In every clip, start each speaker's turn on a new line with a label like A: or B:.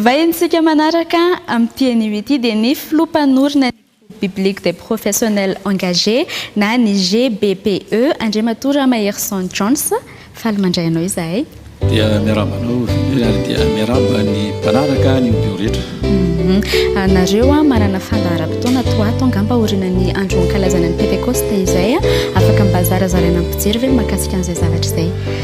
A: Vahintsika manaraka amin'ity anio ity dia ny Filoha mpanorina ny Groupe Biblique des Professionnels Engagés na ny GBPE, Andriamatoa Ramaherison Jones. Faly mandray anao izahay. Dia miarahaba
B: anao Willy ary dia miarahaba ny mpanaraka ny Audio rehetra. Hum,
A: nareo an, manana fandaharam-potoana toa ato angamba aorianan'ny andro ankalazana ny Pentekosta izay an, afaka mba zarazaraina amin'ny mpijery ve ny mahakasika an'izay zavatra izay?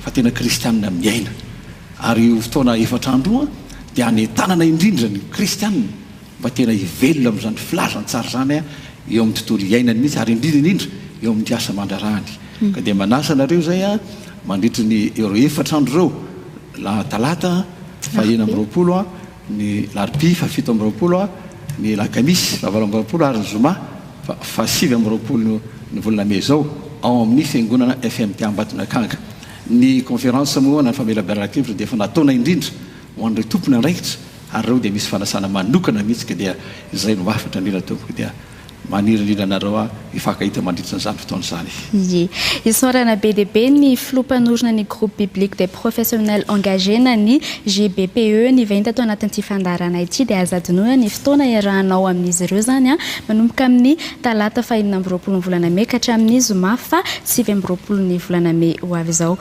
B: fa tena kristianina miaina. Ary io fotoana efatra andro io dia hanentanana indrindra ny kristianina mba tena hivelona amin'izany filazantsara izany eo amin'ny tontolo iainany mihitsy ary indrindra indrindra eo amin'ny asa aman-draharahany. Ka dia manasa anareo izay mandritry ny ireo efatra andro ireo, Talata fahahena amby roapolo, ny larobia faha fito amby roapolo, ny lakamisy faha valo amby roapolo ary ny zoma faha sivy amby roapolo ny volana mey izao ao amin'ny fiangonana FMT Ambatonakanga. Ny conférence moa na ny famelaberan-kevitra dia efa nataona indrindra ho an'ireo tompon'andraikitra ary ireo dia misy fanasana manokana mihitsy ka dia izay no hafatra mila tompoko dia Maniry indrindra anareo aho hifankahita mandritra an'izany fotoana izany. Ie.
A: Isaorana be dia be ny Filoha Mpanorina ny Groupe Biblique des Professionnels Engagés na ny GBPE nivainy tato anatin'ity fandaharana ity dia aza adinoina ny fotoana hiarahanao amin'izy ireo izany manomboka amin'ny talata fahenina amby roapolo ny volana mey ka hatramin'ny zoma faha sivy amby roapolo ny volana mey ho avy izao.